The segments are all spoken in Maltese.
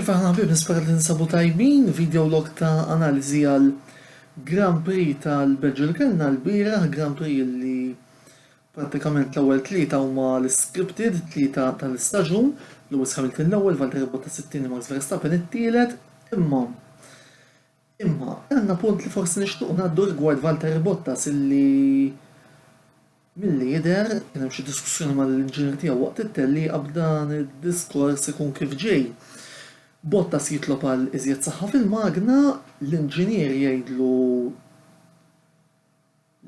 Iva aħna ħbieb nispera li ninsabu tajbin, video log ta' analiżi għal Grand Prix tal-Belġju li kellna lbieraħ, Grand Prix li prattikament l-ewwel tlieta huma l-iscripted, tlieta tal-istaġun, Lewis Hamilton l-ewwel, Valtteri Bottas it-tieni, Max Verstappen it-tielet, imma Imma, għandna punt li forsi nixtiequ ngħaddu rigward Valtteri Bottas illi milli jidher kien hemm xi diskussjoni mal-inġinier tiegħu waqt it-tellieqa b'dan id-diskors ikun kif ġej. Bottas jitlob għal iżjed saħħa fil-magna, l-inġinier jgħidlu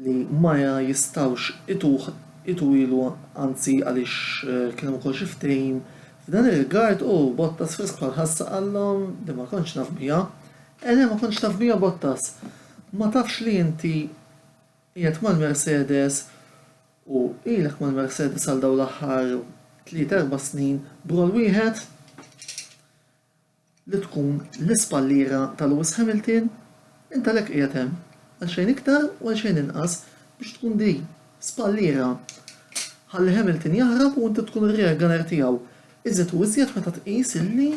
li ma jistgħux ituh itwilu anzi għaliex kien hemm ukoll xi ftehim f'dan ir-rigard u Bottas fi Spa l-ħassa qalhom li ma kontx naf biha. Eh le ma kontx taf biha Bottas! Ma tafx li inti qiegħed mal-Mercedes u ilek mal-Mercedes għal dawn l-aħħar tliet erba' snin b'roll wieħed? li tkun l-ispalliera ta' Lewis Hamilton, int għalhekk qiegħed hemm, għal xejn iktar u għal xejn inqas, biex tkun di, spalliera, ħalli Hamilton jaħrab u inti tkun ir-rear gunner tiegħu, iżjed u iżjed meta tqis illi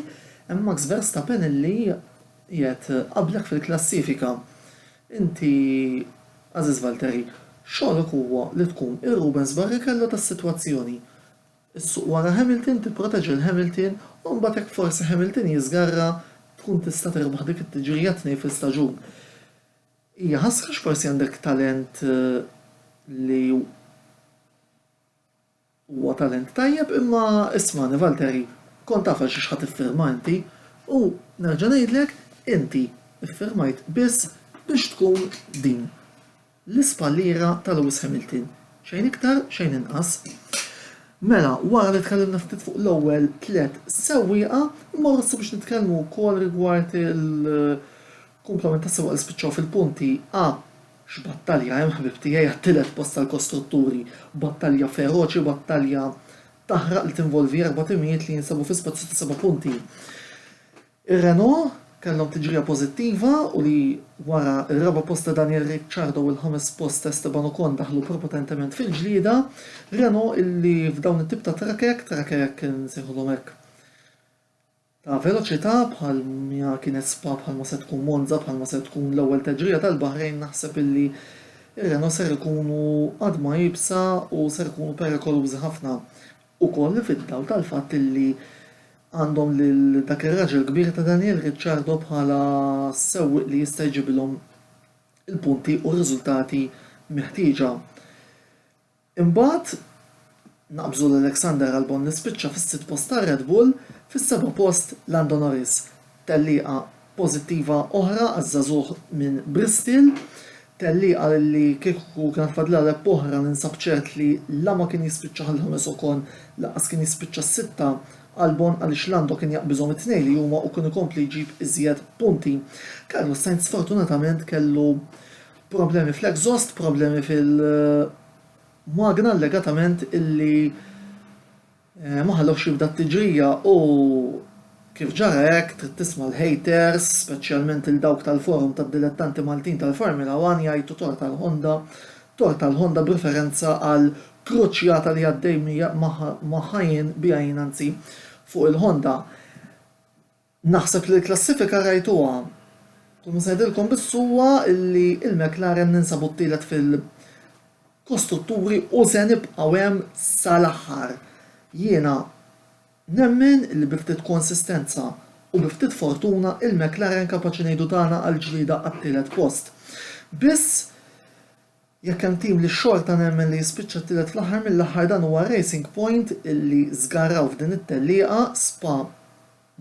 hemm Max Verstappen illi qiegħed qablek fil-klassifika. Inti, għażiż Valtteri, xogħlok huwa li tkun ir-Rubens Barrichello tas-sitwazzjoni. Issuq wara Hamilton, tipproteġi 'l Hamilton u mbagħad jekk forsi Hamilton jiżgarra tkun tista' tirbaħ dik it-tiġrija tnejn fl-istaġun. Hija ħasra għax forsi għandek talent li huwa talent tajjeb imma ismagħni Valtteri, kont taf għal xiex ħa tiffirma inti u nerġa' ngħidlek inti ffirmajt biss biex tkun din. l-ispalliera ta' Lewis Hamilton. Xejn iktar, xejn inqas. Mela, wara li tkellimna ftit fuq l-ewwel tliet sewwieqa, immorru issa biex nitkellmu wkoll rigward il-kumplament tas-sewwieqa li spiċċaw fil-punti A. X'battalja hemm, ħbieb tiegħi, għat-tielet post tal-kostrutturi. Battalja feroċi, battalja taħraq li tinvolvi erba' timijiet li jinsabu fi spazju ta' seba' punti. Ir-Renault kellhom tiġrija pożittiva u li wara r-raba' post ta' Daniel Ricciardo u l-ħames post ta' Esteban Ocon daħlu propotentement fil-ġlieda. Renault illi f'dawn it-tip ta' trakek, trakek insejħulhom hekk ta' veloċità bħal miha kienet Spa bħal ma se tkun Monza bħal ma se tkun l-ewwel teġrija tal-Baħrejn naħseb illi r-Renault ser ikunu għadma iebsa u ser ikunu perikolużi ħafna. ukoll fid-dawl tal-fatt li għandhom lil dak ir-raġel kbir ta' Daniel Ricciardo bħala sewwieq li jista' jġibilhom il-punti u r-riżultati meħtieġa. Imbagħad naqbżu l-Alexander Albon li spiċċa fis-sitt post tar-Red Bull, fis-seba' post Lando Norris. Tellieqa pożittiva oħra għaż-żagħżugħ minn Bristile. Tellieqa li kieku kienet fadlilha leb oħra ninsab ċert li la ma kien jispiċċaha l-ħames Ocon lanqas kien jispiċċa s-sitta Albon għaliex Lando kien jaqbiżhom it-tnejn li huma u kien ikompli jġib iżjed punti. Carlos Sainz sfortunatament kellu problemi fl-exhaust, problemi fil-magna allegatament illi, Ma ħalluhx jibda t-tiġrija u, kif ġara hekk, trid tisma' l-haters, speċjalment lil dawk tal-forum tad-dilettanti Maltin tal-Formula One jgħajtu tort għal Honda, tort għal Honda b'riferenza għal kruċjata li għaddej magħha jien, biha jien anzi, fuq il-Honda. Naħseb li l-klassifika rajtuha. Kull ma se ngħidilkom biss huwa li l-McLaren ninsabu t-tielet fil kostrutturi u se nibqgħu hemm sal-aħħar. Jiena nemmen li bi ftit konsistenza u bi ftit fortuna l-McLaren kapaċi ngħidu tagħna għall-ġlieda għat-tielet post. Biss Jekk hemm tim li xorta nemmen li jispiċċa t-tielet fl-aħħar mill-aħħar dan huwa Racing Point illi żgarraw f'din it-tellieqa, Spa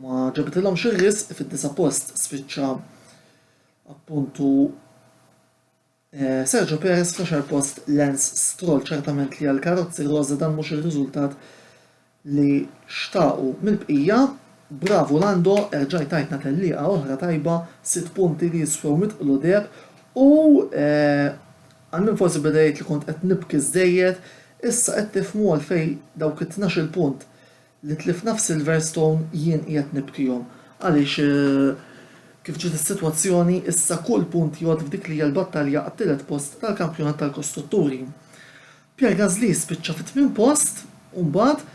ma ġabitilhomx ir-risq fid-disa' post spiċċa appuntu Sergio Perez fl-għaxar post Lance Stroll, ċertament li għall-karozzi roża dan mhux ir-riżultat li xtaqu mill-bqija, bravu Lando erġajt tajtna tellieqa oħra tajba, sitt punti li jiswew mitt qludeb u għal min forsi beda jgħid li kont qed nibki żżejjed, issa qed tifhmu għalfejn dawk it-tnax-il punt li tlifna f'Silverstone jien qiegħed nibkihom għaliex kif ġiet is-sitwazzjoni issa kull punt jgħodd f'dik li hija l-battalja għat-tielet post tal-kampjonat tal-kostrutturi. Pierre Gasly spiċċa fit-tmien post u mbagħad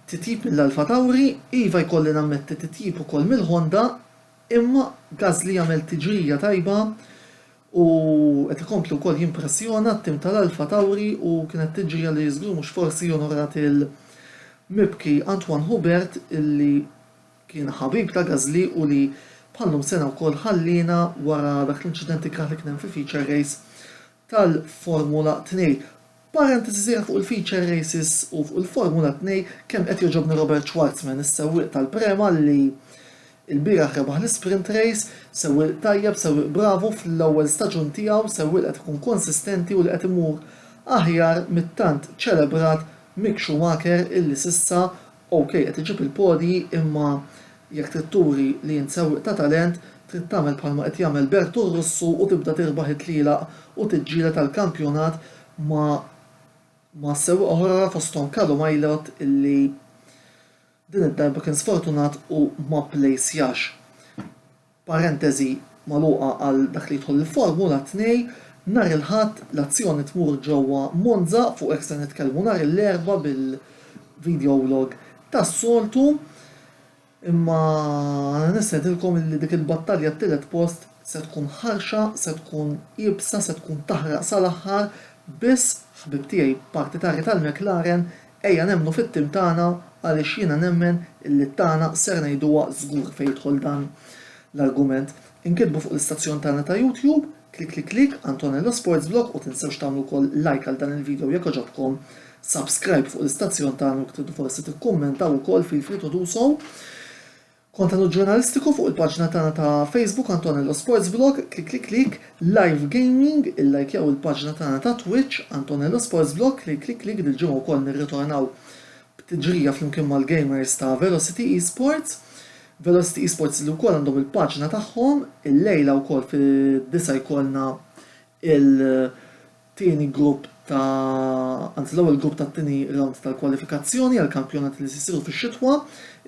titjib mill-Alpha Tauri, iva jkolli nammetti titjib ukoll mill-Honda imma Gasly għamel tiġrija tajba u qed ikompli wkoll jimpressjona t-tim tal-Alpha Tauri u kienet tiġrija li żgur mhux forsi onorat il-mibki Antoine Hubert illi kien ħabib ta' Gasly u li bħal-lum sena wkoll ħalliena wara dak l-inċident ikrah li kien hemm fil-feature race tal-Formula 2. Parentesi sħiħa fuq il-feature races u fuq il-Formula 2 kemm qed jogħġobni Robert Schwarzman, is-sewwieq tal-Prema li lbieraħ rebaħ l-Isprint Race, sewwieq tajjeb, sewwieq bravu fl-ewwel staġun tiegħu, sewwieq li qed ikun konsistenti u li qed imur aħjar mit-tant ċelebrat Mick Schumacher illi s'issa OK qed iġib il-podji imma jekk trid turi li int sewwieq ta' talent trid tagħmel bħalma qed jagħmel Bertu r-Russu u tibda tirbaħ it-tlielaq u tiġġieled għall-kampjonat ma' ma' sewwieqa oħra fosthom Kalu Majlott illi din id-darba kien sfortunat u ma pplejsjax. Parenteżi magħluqa għal dak li jidħol il-formula 2 Nhar il-Ħadd l-azzjoni tmur ġewwa Monza, fuq hekk ser nitkellmu nhar il-Erbgħa bil-videolog tas-soltu, imma nistedinkom illi dik il-battalja t-tielet post se tkun ħarxa, se tkun iebsa, se tkun taħraq sal-aħħar, biss, ħbieb tiegħi partitarji tal-McLaren, Ejja nemmnu fit-tim tagħna għaliex jiena nemmen illi t-tagħna ser ngħiduha żgur fejn jidħol dan l-argument. Inkitbu fuq l-istazzjon tagħna ta' YouTube, Klikliklik, Antonello Sports Vlog u tinsewx tagħmlu wkoll like għal dan il-video jekk għoġobkom, subscribe fuq l-istazzjon tagħna u jekk tridu forsi tikkummentaw ukoll feel free to do so. Kontenut ġurnalistiku fuq il-paġna tagħna ta' Facebook Antonello Sports Vlog, clicklicklick, Live Gaming, Illajkjaw il-paġna tagħna ta' Twitch, Antonello Sports Vlog, clicklicklick, Dil-ġimgħa wkoll nirritornaw b'tiġrija flimkien mal-gamers ta' Velocity Esports, Velocity Esports li wkoll għandhom il-paġna tagħhom, illejla wkoll fid-disgħa jkollna il- tieni grupp ta' anzi l-ewwel grupp tat-tieni rawnd tal-kwalifikazzjoni għall-kampjonati li se jsiru fix-xitwa,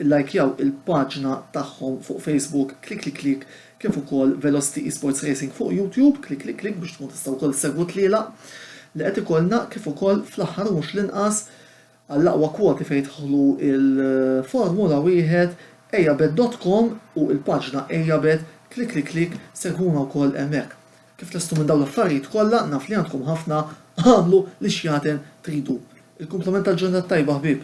illajkjaw il-paġna tagħhom fuq Facebook Klikliklik kif ukoll Velocity Esports Racing fuq YouTube Klikliklik biex tkun tista' wkoll issegwu t-tlielaq li qed ikollna kif ukoll fl-aħħar u mhux l-inqas Għall-aqwa kwoti fejn jidħlu l-formula wieħed, Ejabed dot com u l-paġna Ejabed, klik klik klik, segwuna wkoll hemmhekk. Kif lestu minn dawn l-affarijiet kollha, naf li għandkom ħafna, agħmlu li x'jaten tridu. Il-kumplament tal-ġurnata t-tajba ħbieb.